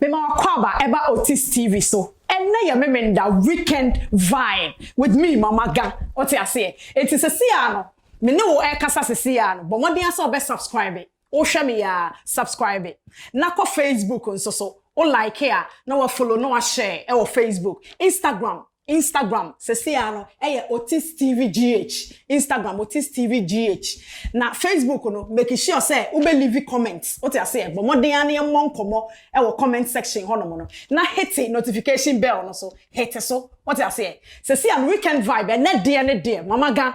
Mema w'akwaaba ɛba Otis TV so. Ɛnnɛ yɛ Memenda weekend vibe with me Mama Ga. Wote aseɛ? Enti sese ara no, me ne wo ɛrekasa sese ara no, bɔ mmɔden ara sɛ wobɛ subscribe. Wohwɛ me yi ara, subscribe. Na kɔ Facebook nso so, wo like a, na wa follow na wa share ɛwɔ Facebook, Instagram, Instagram sesei ara no yɛ Otis TV GH, Instagram Otis TV GH, na Facebook no make sure sɛ wobɛ leave comment, wote aseɛ? Bɔ mmɔden ara na yɛmmɔ nkɔmmɔ wɔ comment section hɔnom no, na hete notification bell no nso, hete so, wote aseɛ? Sesei ara no Weekend Vibe, ɛnnɛ deɛ ne deɛ, Mama Ga.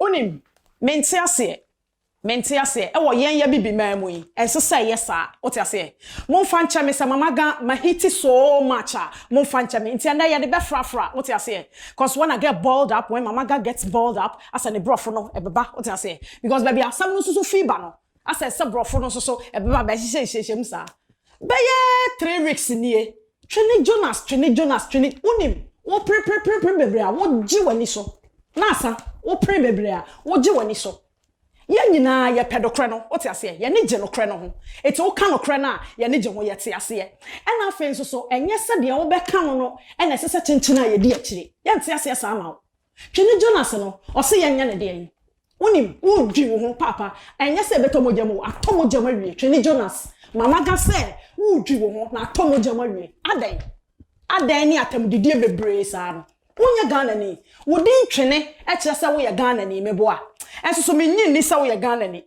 Wonim, mente aseɛ, mente aseɛ, ɛwɔ yɛn y'Abibiman mu yi, ɛnsɛ sɛ ɛyɛ saa, wote aseɛ? Momfa nkyɛ me sɛ Mama Gan mahiti so much a, momfa nkyɛ me, nti ɛnnɛ yɛde bɛfrafra, wote aseɛ? Cos when I get boiled up, when Mama Gan gets boiled up, asɛ ne borɔfo no ɛbɛba, wote aseɛ? Because baabi a asɛm no nso so fii ba no, Asɛ sɛ brɔfo no nso so ɛbɛma bɛhyehyɛ nhyiahyia mu saa. Bɛyɛ three weeks nie, twene Jonas, twene Jonas, twene, wonim, wo pre pre pre pre bebree a wo gye w'ani so, na asa, wo pre bebree a wo gye w'ani so. Yɛn nyinaa yɛ pɛ dokorɛ no, wote aseɛ, yɛni gye nokorɛ no ho, enti wo ka nokorɛ no a yɛni gye ho, yɛ te aseɛ. Ɛna afei nso so ɛnyɛ sɛ deɛ wo bɛka no no ɛna ɛsɛ sɛ kyenkyen a yɛdi akyire, yɛn te aseɛ saa ma wo. Hwɛ ne jealous no, ɔse yɛnyɛ no deɛn? Wonim, wo dwi wo ho paapa, ɛnyɛ sɛ ɛbɛtɔ mogya mu o, atɔ mogya mu awie, hwɛ ne jealous, mama ga sɛ wo dwi wo ho na atɔ mogya mu awie, adɛn? Adɛn ne atamdidie bebree saa no, wo nyɛ Ghana ni, wo din twene kyerɛ sɛ wo yɛ Ghana ni, meboa, ɛnsoso me nnye nni sɛ wo yɛ Ghana ni,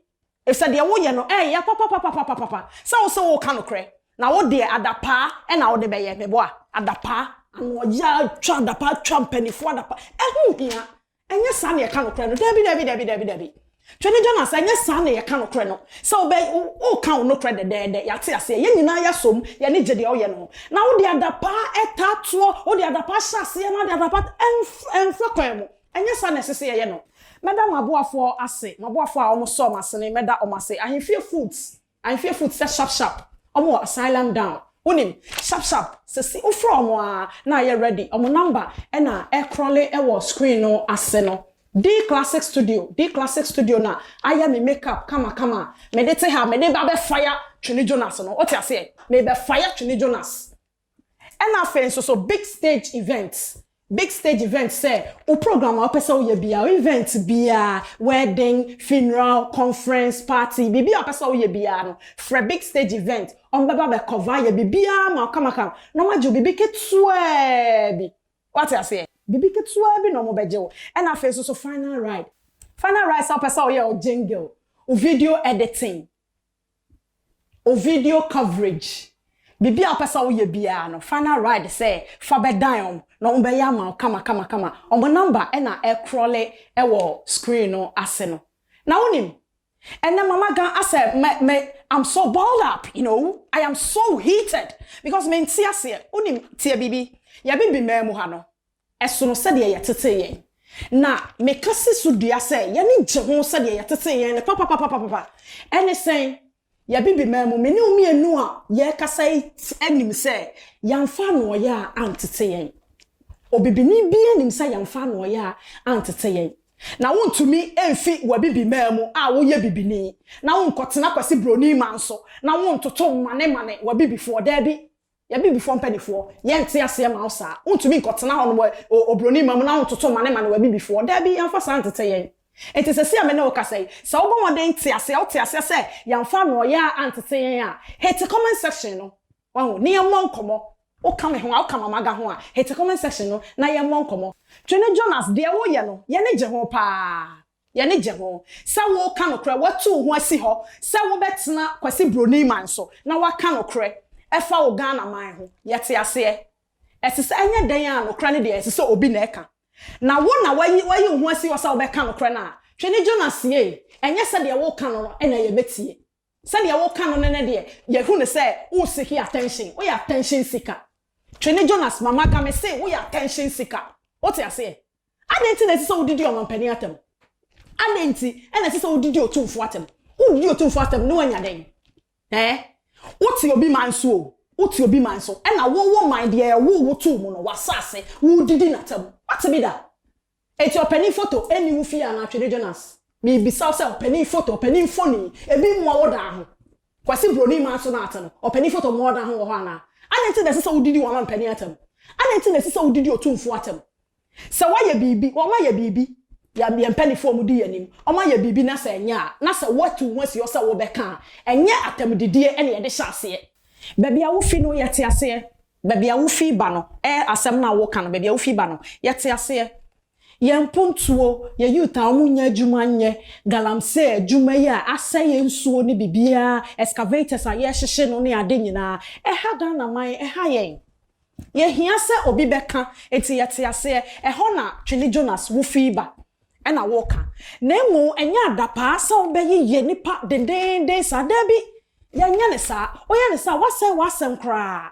Efisɛ deɛ woyɛ no ɛɛyɛ papapapapapa sɛ wo se woreka nokorɛ, na wo deɛ adapaa na wode bɛyɛ, meboa, adapaa, anoɔyea twa adapaa twa mpaninfoɔ adapaa, ɛho nhia, ɛnyɛ saa na yɛka nokorɛ no, daabi daabi daabi daabi daabi, Twene gya no ase, ɛnyɛ saa na yɛka nokorɛ no, sɛ wobɛ, woreka wo nokorɛ dɛdɛɛdɛ, yɛate aseɛ, yɛn nyinaa yɛ asom, yɛn ani gye deɛ woyɛ no ho, na wode adapaa taa toɔ, wode adapaa hyɛ aseɛ na wode adapaa, ɛmfa kwan mu. Ɛnyɛ saa na ɛsɛ sɛ yɛyɛ no. Mɛda mo aboafoɔ ase, mo aboafoɔ a wɔsɔɔ mo asene, mɛda wɔn ase. Ahemfie foot, ahemfie foot sɛ sharp sharp, wɔn wɔ asylum down, wonim, sharp sharp, sɛ se wo frɛ wɔn aa na ayɛ ready, wɔn number na ɛ crawle wɔ screen no ase no. D'classic studio, D'classic studio na ayɛ me make up kama kama a mede te ha a, mede ba bɛ fire Twene Jonas no, wote aseɛ? Merebɛ fire Twene Jonas. Ɛna afei nso so big stage event big stage event sɛ wo program a wopɛ sɛ woyɛ biara event biara wedding funeral conference party biribi a wopɛ sɛ woyɛ biara no frɛ big stage event wɔn bɛba bɛ cover yɛ biribiara ma kamakam na wɔn agye wo biribi ketewaa bi wate aseɛ biribi ketewaa bi na wɔn bɛgye wo ɛna afei nso so final ride final ride sɛ wopɛ sɛ woyɛ wo jingle wo video editing O video coverage biribi a wopɛ sɛ woyɛ biara no final ride sɛ fa bɛdan wɔn na wɔn bɛyɛ ama wo kama kama kama wɔn number na ɛkrɔle wɔ screen no ase no na wonim ɛnɛ mama gan asɛ me me I'm so balled up you know I am so heated because mente aseɛ wonim tie biribi yɛbe bimɛɛ mu ha no Ɛsono sɛdeɛ yɛtetee yɛn. Na meka si so dua sɛ y'ani gye ho sɛdeɛ yɛtetee yɛn no papapapapapa. Ɛne sɛn? Y'Abibiman mu, me ne wo mmienu a yɛrekasa yi nim sɛ yɛamfa anoɔyaa antete yɛn. Obibini biara nim sɛ yɛamfa anoɔyaa antete yɛn. Na wontumi mfi w'Abibiman mu a woyɛ bibini na wonkɔtena Kwasi Broni man so na wontoto mmanemane w'Abibifoɔ. Daabi. Y'Abibifoɔ mpaninfoɔ, yɛnte aseɛ ma wo saa. Wontumi nkɔtena hɔ no wɔ obroni ma mu na wontoto mmane mmane w'Abibifoɔ. Daabi, yɛmfa saa ntete yɛn. Enti sɛsi a me ne wo kasa yi, sɛ wobɔ mmɔden te aseɛ, wote aseɛ sɛ yɛmfa anoɔyaa antete yɛn a, hete comment section no, wahu, ne yɛmmɔ nkɔmmɔ. Woka me ho a, woka Mama Aga ho a, hete comment section no na yɛmmɔ nkɔmmɔ. Twene Jonas, deɛ woyɛ no, y'ani gye ho paa. Y'ani gye ho sɛ woka nokorɛ, watu wo ho asi hɔ sɛ wobɛtena Kwasi Broni man so na woaka nokorɛ ɛfa wo Ghana man ho. Yɛte aseɛ. Ɛsesɛ ɛnyɛ dɛn a nokorɛ no deɛ ɛsesɛ obi na ɛka. Na wo na wayi wayi wo ho asi hɔ sɛ wobɛka nokorɛ no a, Twene Jonas yei, ɛnyɛ sɛdeɛ woka no no na yɛbɛtie. Sɛdeɛ woka no no no deɛ, yɛhu no sɛ wo seeki attention, woyɛ attention seeker. Twene Jonas, Mama Kame se woyɛ attention seeker. Wote aseɛ? Adɛn nti na ɛsɛ sɛ wodidi ɔmampanin atɛm? Adɛn nti na ɛsɛ sɛ wodidi otumfoɔ atɛm? Wodidi otumfoɔ atɛm na woanya dɛn? Ɛɛ, wote obi man so o, wote obi man so, ɛna wo wo man deɛ ɛwoo wo too mu no, w'asaase, woredidi n'atɛm. Woate bi da? Enti ɔpanin foto nni wo fie anaa Twede Jonas? Merebisa wo sɛ ɔpanin foto, ɔpanin mfonin, ebi mmoa wo da ho? Kwasi Broni man so na wote no, ɔpanin foto mmoa wo da ho wɔ hɔ anaa? Adɛn nti na ɛsɛ sɛ wodidi w'amampanin atɛm? Adɛn nti na ɛsɛ sɛ wodidi otumfoɔ atɛm? Sɛ wɔayɛ biribi, wɔayɛ biribi, yɛn yɛn mpanimfoɔ a wɔdi yɛn anim, wɔayɛ biribi na sɛ ɛnyɛ a, na sɛ woatu wo ho asi hɔ sɛ wobɛka a, ɛnyɛ atɛmdidie na yɛde hyɛ aseɛ. Baabi a wofi no, yɛte aseɛ. Baabi a wofi ba no, ɛɛ asɛm no a woka no, baabi a wofi ba no, yɛte aseɛ. Yɛn mpontuo, yɛn youth a wɔnnya adwuma nyɛ, galamsey adwuma yi a asɛe yɛn nsuo ne biribiara, excavators a yɛrehyehye no ne ade nyinaa, ɛha Ghanaman, ɛha yɛn. Yɛhia sɛ obi bɛka, enti yɛte aseɛ. Ɛhɔ na Twene Jonas wofii ba, ɛna woka. Na mmom ɛnyɛ adapaa sɛ wobɛyeyɛ nnipa dendeenden saa. Dabi, yɛnyɛ no saa. Woyɛ no saa a, woasɛe w'asɛm koraa.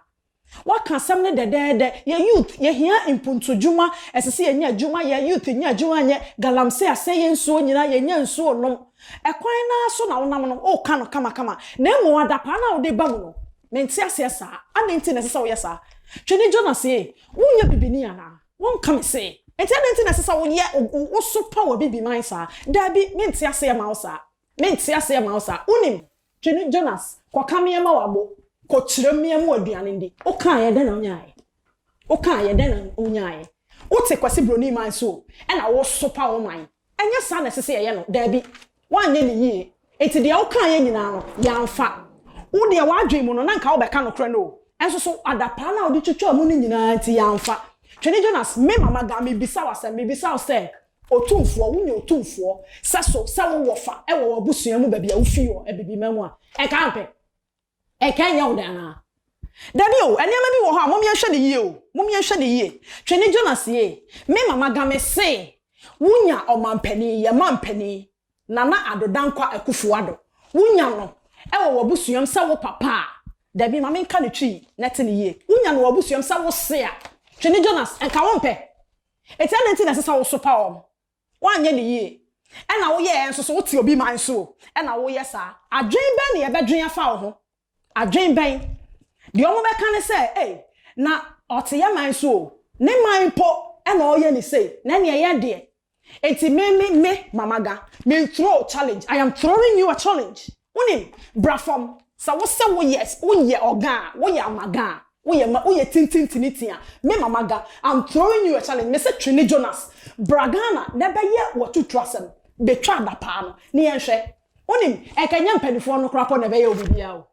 Woaka asɛm no dɛdɛɛdɛ. Yɛn youth, yɛhia mpuntudwuma. Ɛsɛ sɛ yɛnya adwuma yɛ. Youth nya adwuma nyɛ. Galamsey asɛe yɛn nsuo nyinaa. Yɛnnya nsuo nnom. Ɛkwan no ara so na wonam no. Woka no kamakama. Na mmom adapaa no a wode ba mu no, Mente aseɛ saa. Adɛn nti na ɛsɛ sɛ woyɛ saa? Twene Jonas ee, wonyɛ bibini anaa? Wonka me see. Enti adɛn nti na ɛsɛ sɛ woyɛ, woso pa wɔ bibi man saa? Daabi, mente aseɛ mma wo saa. Mente aseɛ mma wo saa. Wonim. Twene Jonas, kɔka meɛ ma w'abo. Kɔkyerɛ meɛ ma w'aduane ndi. Wokaeɛ, dɛn na wonyaaeɛ? Wokaeɛ, dɛn na wonyaaeɛ? Wote Kwasi Broni man so o, ɛna woso pa wo man. Ɛnyɛ saa na ɛsɛ sɛ yɛyɛ no. Dabi, woanyɛ no yie. Enti deɛ wokaeɛ nyinaa no, yɛamfa. Wo deɛ, w'adwene mu no, na anka wobɛka nokorɛ no o, nso so adapaa no a wode twitwaa mu no nyinaa nti, yɛamfa. Twene Jonas, me mama Gal, mebisa wo asɛm, mebisa wo sɛ, Otumfoɔ, wonya otumfoɔ sɛso sɛ wo wɔfa wɔ w'abusua mu baabi a wofii wɔ Abibima mu a, ɛnka ampɛ? Ɛka nyɛ wo dɛ anaa? Dabi o, nneɛma bi wɔ hɔ a mom yɛnhwɛ no yie o, mom yɛnhwɛ no yie. Twene Jonas yee, me mama ga me se wo nya ɔmanpanin, yɛ manpanin, Nana Addo Dankwa Akuffo Addo, wo nya no wɔ w'abusuam sɛ wo papa a, dabi ma me nka no twii na ɛte no yie, wo nya no wɔ w'abusuam sɛ wo se a, Twene Jonas, nka wo mpɛ? Eti adɛn nti na ɛsɛ sɛ wo sopa wɔn? Woanyɛ no yie. Ɛna woyɛɛ nso so, wote obi man so o, ɛna woyɛ saa. Adwene bɛn na yɛbɛdwene afa wo ho? Adwene bɛn? Deɛ wɔbɛka ne sɛ, Ei, na ɔte yɛn man so o, ne man mpo na ɔreyɛ no sei, na ɛnneɛ yɛn deɛ? Enti me, me, me, Mama Ga, mensuroo challenge. I am throwing you a challenge. Wonim, bra fam, sɛ wo se wo yɛ, wo yɛ ɔga a, wo yɛ amaga a, wo yɛ ma, wo yɛ tintintinitin a, me mama ga, I'm throwing you a challenge, me se Twene Jonas, bra Ghana na ɛbɛ yɛ w'atutu asɛm, bɛ twa adapaa no, ne yɛn hwɛ. Wonim, ɛka nyɛ mpanifoɔ no koraa pɔ na ɛbɛ yɛ wo biribiaa o.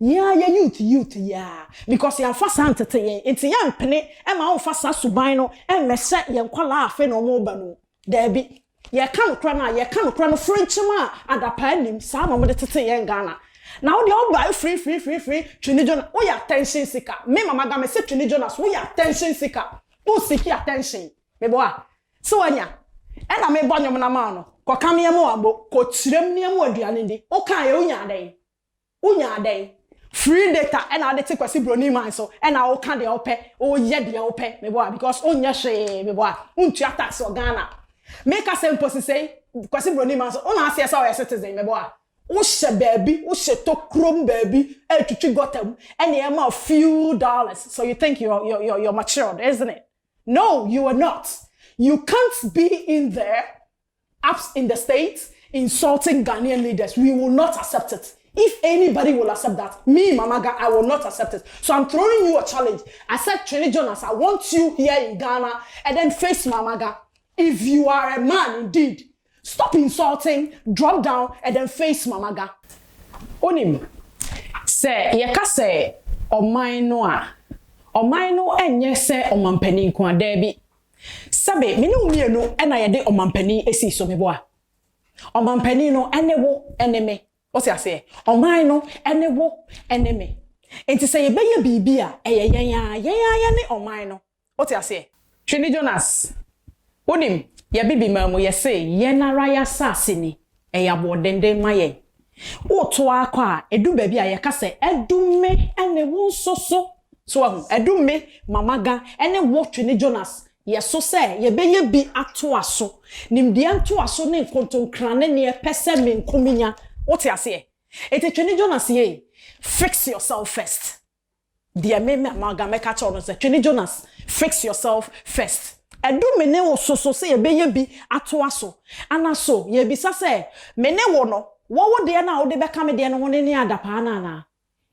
Yɛn a yɛ youth youth yi aa, because yɛn fa saa ntete yɛn, nti yɛn mpene ma wɔn fa saa suban no mmɛ hyɛ yɛn nkwadaa a afei na wɔn reba no mu. Daabi. Yɛka nokorɛ no a, yɛka nokorɛ no frenkyem a adapaa nnim, saa na wɔde tetee yɛn Ghana. Na wo deɛ wo bae firi firi firi firi Twene Jonas, wo yɛ attention seeker, me Mama Ga me se Twene Jonas wo yɛ attention seeker, wo seeki attention, me bɔ a, se wanya, ɛna me bɔ nwom no ama wo no, kɔ ka nneɛma o ambo, kɔ kyirem nneɛma o aduane ndi, wo kaeɛ wo nyaa dɛn? Wo nyaa dɛn? Free data na wode te Kwasi Broni man so na wo ka deɛ wo pɛ, wo yɛ deɛ wo pɛ me boa because wo nyɛ hwee me boa, wo ntua tax wɔ Ghana. Me ka sɛ mpo sesei Kwasi Broni man so wo na aseɛ sɛ wo yɛ citizen me boa, wo hyɛ baabi, wo hyɛ tɔ kurom baabi ɛretwitwi gutter mu ɛna ɛma wo few dollars so you think you're you're you're matured isn't it? No you are not, you can't be in there Ups in the state insulting Ghanaian leaders we will not accept it if anybody will accept that me mama ga I will not accept it so I'm throwing you a challenge I said Twene Jonas I want you here in Ghana and then face mama ga if you are a man indeed stop insulting drop down and then face mama ga. Wonim, sɛ yɛka sɛ ɔman no a, ɔman no nyɛ sɛ ɔmampanin nko a, daabi, Sɛbe me ne wo mmienu na yɛde ɔmanpanin sii so, meboa? Ɔmanpanin no ne wo ne me. Wote aseɛ? Ɔman no ne wo ne me. Enti sɛ yɛbɛyɛ biribi a, ɛyɛ yɛn ara, yɛn ara yɛne ɔman no. Wote aseɛ? Twe ne Jonas. Wonim, yɛbebi maa mu, yɛse, Yɛn ara y'asaase ni. Ɛyɛ aboɔdenden ma yɛn. Woreto ara kɔ a, edu baabi a yɛka sɛ, Adu me ne wo nso so. So woahu? Adu me, Mama Ga, ne wo, Twene Jonas, yɛ so sɛ yɛbɛyɛ bi atoa so. Nimdeɛ ntoaso ne nkontonkra ne nea ɛpɛ sɛ me nko minya. Wote aseɛ? Enti Twene Jonas yei, fix yourself first. Deɛ me me maga mɛka kyɛw no sɛ Twene Jonas fix yourself first. Ɛdu me ne wo so so sɛ yɛbɛyɛ bi atoa so ana so yɛbisa sɛ me ne wo no wɔ wo deɛ no a wode bɛka me deɛ no ho ne ne adapaa no anaa?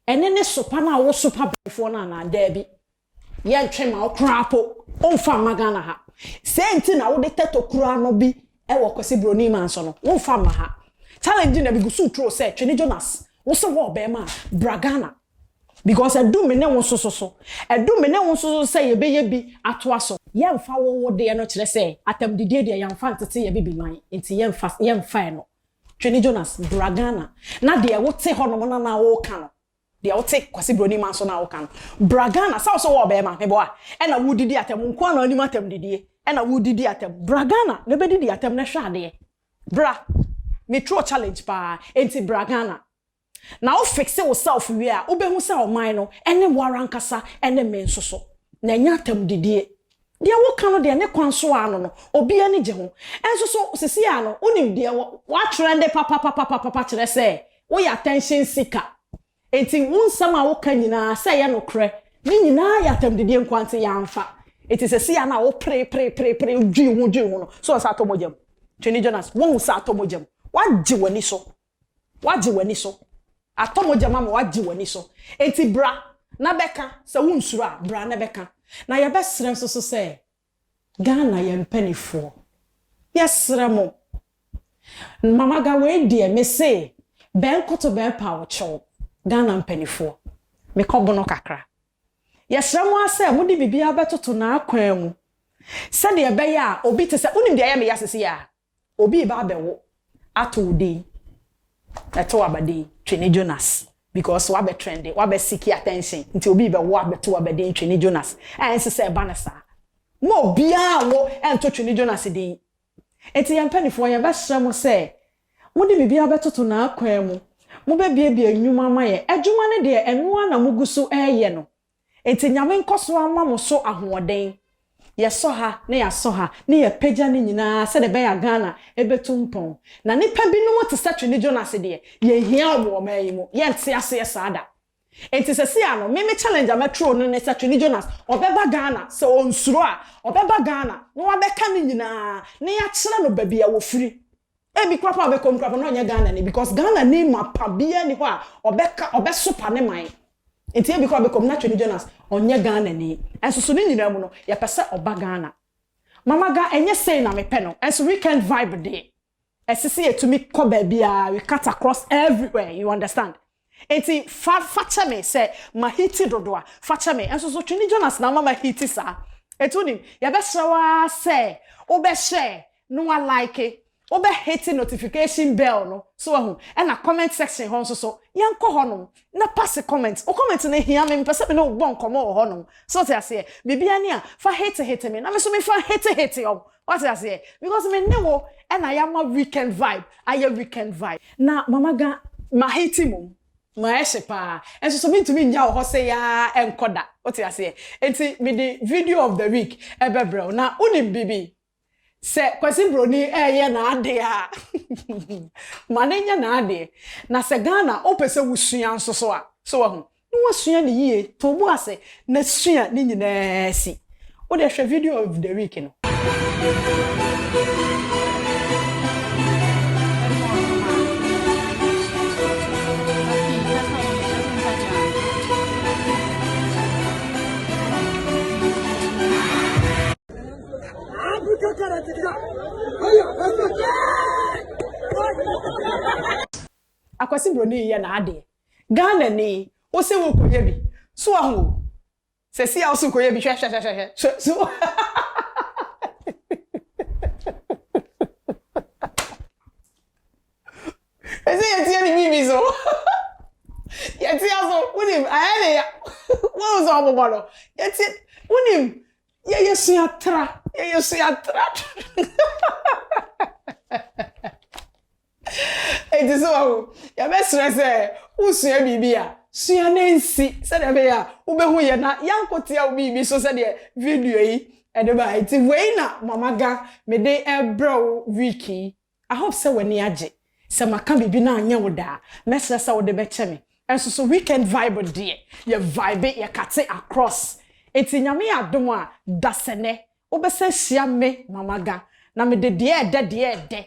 Ɛne ne sopa no a wo sopa bɛfoɔ no anaa? Daabi. Yɛntwe ma wo koraa po womfa mma Ghana ha. Sei nti na wode tɛtɔ kura no bi Ɛwɔ Kwasi Broni man so no wonfa mma ha challenge na megu so turo sɛ Twene Jonas wo se wɔ ɔbɛɛma a bra Ghana because ɛdu me ne wo nso so so ɛdu me ne wo nso so sɛ yɛbɛyɛ bi atoa so. Yɛnfa wo wo deɛ no kyerɛ sɛ atamdidie deɛ yɛnfa ntete yɛ bibiman nti yɛnfa yɛnfa ɛno Twene Jonas bra Ghana na deɛ wo te hɔ nom na na wo ka no Deɛ wo te Kwasi Broni man so no a wo ka no. Bra Ghana sɛ wo so wɔ ɔbɛɛma, me boa, ɛna wo didi atɛm, wo nkoa na wo nim atɛm didie, ɛna wo didi atɛm. Bra Ghana na bɛ didi atɛm na hwɛ adeɛ. Bra. Me trɔ challenge paa, ɛnti bra Ghana. Na wo fixe wo self wie a, wo bɛ hu sɛ ɔman no, ɛne wo ara ankasa, ɛne me nso so. Na ɛnyɛ atɛm didie. Deɛ woka no deɛ ne kwan so ara no no obi ani gye ho. Nso so sesei ara no wonim deɛ woatren'de papapapapapa kyerɛ sɛ woyɛ attention seeker. Enti wo nsɛm a woka nyinaa sɛ ɛyɛ nokorɛ ne nyinaa yɛ atɛmdidie nkoa nti yɛamfa. Enti sesei ara no a wopereperepereperee wodwiri ho dwiri ho no so ɔnsɛ atɔ mogya mu? Twene Jonas woahu sɛ atɔ mogya mu? Woagye w'ani so Wagye w'ani so. Atɔ mogya mu ama wagye w'ani so. Enti bra na bɛka. Sɛ wonsuro a, bra na bɛka. Na yɛbɛsrɛ nso so sɛ, Ghana yɛn mpanifoɔ, yɛsrɛ mo, Mamaga wei deɛ mese bɛnkoto bɛɛpa wo kyɛw, Ghana mpanifoɔ, mekɔ bono kakra. Yɛsrɛ mo ara sɛ mode biribiara bɛtoto n'akwan mu sɛdeɛ ɛbɛyɛ a obi te sɛ, wonim deɛ ɛyɛ me ya sesie a? Obi reba abɛwo ato wo din, ɛto w'aba din Twene Jonas because wabɛ trende, wabɛ seeki attention nti obi rebɛwo abɛto w'aba din Twene Jonas a ɛnse sɛ ɛba no saa. Mma obiara nwo ɛnto Twene Jonas din. Nti yɛn mpanifoɔ yɛbɛsrɛ mo sɛ mode biribiara bɛtoto n'akwan mu, mobɛbiebie nnwuma ama yɛn, adwuma no deɛ ɛno ara na mogu so reyɛ no Enti Nyame nkɔso ara mma mo so ahoɔden. Yɛsɔ ha na yɛasɔ ha na yɛapagya ne nyinaa sɛdeɛ ɛbɛya Ghana bɛtu mpɔn. Na nnipa binom te sɛ Twene Jonas deɛ, yɛhia wɔn wɔ ɔman yi mu. Yɛnte aseɛ saa da. Enti sɛsei ara no, me me challenge a mɛtwerɛ no ne sɛ Twene Jonas, ɔbɛba Ghana, sɛ ɔnsuro a, ɔbɛba Ghana na wabɛka ne nyinaa na yɛakyerɛ no baabi a wɔfiri. Ebi koraa paa ɔbɛkɔ mu koraa paa na ɔnyɛ Ghana ni because Ghana ni mapa biara ni hɔ a ɔbɛka ɔbɛsopa ne man nti ebi koraa ɔbɛkɔ mu na Twene Jonas ɔnyɛ Ghana ni nso so ne nyinaa mu no yɛpɛ sɛ ɔba Ghana Mama Ga ɛnyɛ sei na mepɛ no nso weekend vibe deɛ ɛsisi yɛtumi kɔ baabiara we cut across everywhere you understand Enti fa fa kyɛ me sɛ mahiti dodo a, fa kyɛ me. Nso so twe ne Jonas na ama mahiti saa. Enti wonim, yɛbɛsrɛ wo ara sɛ wobɛ share na wa like, wobɛ hiti notification bell no, so wahu, ɛna comment section hɔ nso so, yɛnkɔ hɔnom na passe comment. Wo comment no hia me, mepɛ sɛ me ne wo bɔ nkɔmmɔ wɔ hɔnom, so wote aseɛ? Biribiara ni a, fa hiti hiti me na me nso me fa nhiti hiti wo. Wate aseɛ? Because me ne wo ɛna yɛama weekend vibe ayɛ weekend vibe. Na Mama Ga, mahate mmom. Mayɛ hye paa. Nso so mentumi nnya wo hɔ sei ara nkɔ da. Wote aseɛ? Enti mede video of the week bɛbrɛ wo. Na wonim biribi? Sɛ Kwasi Broni reyɛ n'adeɛ a, ma no nyɛ n'adeɛ. Na sɛ Ghana wopɛ sɛ wosua nso so a, so wahu? na wasua no yie, to wo bo ase na sua ne nyinaa si. Wo deɛ hwɛ video of the week no. Akwasi Broni yɛ n'adeɛ. Ghana ni wo se wo kɔ yɛ bi so wa hu o sɛ si a wo se wo kɔ yɛ bi hwɛ hwɛ hwɛ hwɛ hwɛ so ha ha ha ɛsɛ yɛ tiɛ ni bi bi so yɛ tiɛ so wunim ayɛ ne ya wo sɛ ɔmo bɔ no yɛ tiɛ wunim yɛ yɛ sua tra yɛ yɛ sua tra. Enti so wahu? Yɛbɛsrɛ sɛ wosua biribi a, sua na ensi sɛnea ɛbɛyɛ a wubehu yɛn na yɛakotew wo biribi so sɛdeɛ video yi de ba. Enti wei na Mama Ga mede rebrɛ wo week yi. I hope sɛ w'ani agye. Sɛ maka biribi na anyɛ wo dɛ a, mɛsrɛ sɛ wode bɛkyɛ me. Nso so weekend vibe deɛ, yɛ vibe, yɛkate across. Enti Nyame adom a, dasɛnɛ wobɛsan ahyia me Mama Ga na mede deɛ ɛdɛ deɛ ɛdɛ